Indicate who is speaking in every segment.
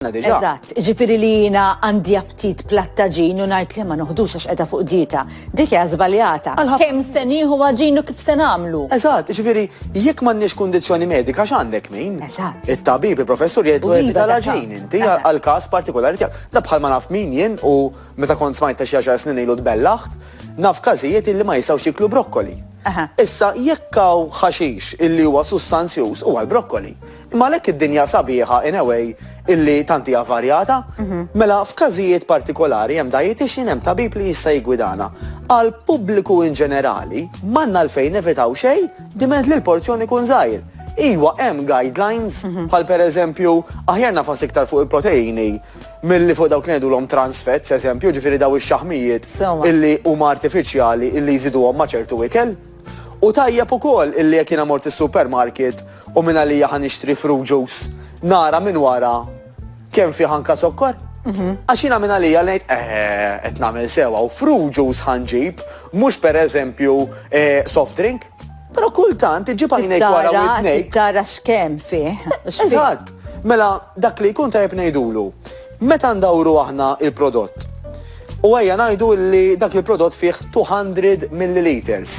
Speaker 1: għandna diġà. Eżatt, jiġifieri li jiena għandi aptit platt għaġin u ngħid le ma noħdux għax qiegħda fuq dieta, dik hija żbaljata. Kemm se nieħu għaġin u kif se nagħmlu? Eżatt, jiġifieri
Speaker 2: jekk m'għandniex kundizzjoni medika x'għandek min? Eżatt. It-tabib,
Speaker 1: il-professur
Speaker 2: jgħidlu evita l-għaġin inti għall-każ partikolari tiegħek. Da bħal ma naf min jien u meta kont smajt ta' xi għaxar snin ilu tbellaħt, naf każijiet illi ma jistgħux jieklu brokkoli. Issa jekk hawn ħaxix illi huwa sustanzjuż huwa l-brokkoli. Imma għalhekk id-dinja sabiħa in a way illi tant hija varjata, mela f'każijiet partikolari hemm dietitian, hemm tabib li jista' jiggwidana. Għal pubbliku in ġenerali m'għandna għalfejn nevitaw xejn diment li l-porzjon ikun żgħir. Iwa hemm guidelines bħal pereżempju aħjar nagħfas iktar fuq il-proteini milli fuq dawk li ngħidulhom trans fats eżempju, jiġifieri daw ix-xaħmijiet illi huma artifiċjali illi jżiduhom ma' ċertu ikel. U tajjeb ukoll illi jekk jiena mort is-supermarket, U minn għalija ħa nixtri fruit juice nara minn wara kemm fih anka zokkor? Għax jiena minn għalija ngħid eħe qed nagħmel sewwa u fruit juice ħa nġib mhux pereżempju eh, soft drink. Però kultant iġib għajnejk wara u jtnejk. Tara x'kemm
Speaker 1: fih. Eżatt.
Speaker 2: Mela dak li jkun tajjeb ngħidulu. Meta ndawru aħna il-prodott. U għajja ngħidu li dak il-prodott fih 200 milliliters.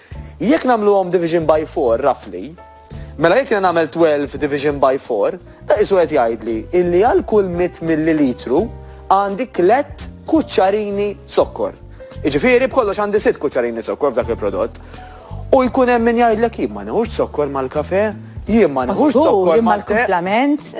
Speaker 2: Jekk nagħmluhom division by four, roughly, mela jekk jiena nagħmel twelve division by four, da qisu qed jgħidli illi għal kull mitt millilitru għandi tlett kuċċarini zokkor. Jiġifieri b'kollox għandi sitt kuċċarini zokkor f'dak il-prodott. U jkun hemm min jgħidlek jien ma nieħux zokkor mal-kafè, jien ma nieħux zokkor mal-te.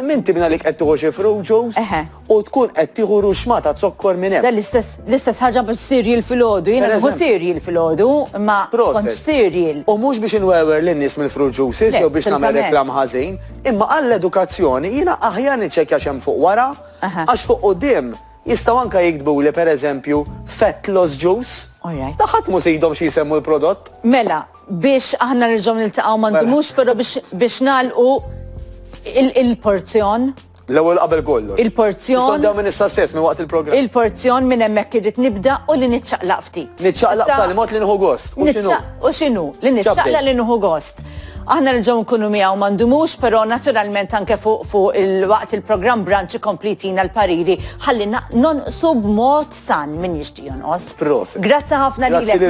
Speaker 1: Min tibna li qed
Speaker 2: tieħu xi fruit juice? u tkun qed tieħu ruxma ta' zokkor minn hemm. L-istess
Speaker 1: ħaġa biex cereal filgħodu, jiena nieħu cereal filgħodu, imma ma kontx cereal. U mhux biex inwewer
Speaker 2: lin-nies mill-fruit juices jew biex nagħmel reklam ħażin, imma għall-edukazzjoni jiena aħjar niċċekkja x'hemm fuq wara, għax fuq quddiem jistgħu anke jiktbuli pereżempju fat loss juice. Ta' ħadd mhu se jidhom xi jsemmu l-prodott. Mela,
Speaker 1: biex aħna nerġgħu niltaqgħu ma ndumux però biex nagħlqu il-porzjon. L-ewwel qabel kollox.
Speaker 2: Il-porzjon. Nistgħu nibdew minn
Speaker 1: issa stess, minn
Speaker 2: waqt il-programm. Il-porzjon minn hemmhekk
Speaker 1: irrid nibda u li niċċaqlaq ftit. Niċċaqlaq b'tali mod li nieħu
Speaker 2: gost. U x'inhu? U x'inhu? Li
Speaker 1: niċċaqlaq li nieħu gost. Aħna nerġgħu nkunu miegħu ma ndumux, però naturalment anke fuq fuq il-waqt il-programm branċ ikompli jtina l-pariri ħalli nonqsu b'mod san min jixtieq
Speaker 2: jonqos.
Speaker 1: Proset. Grazzi ħafna lilek.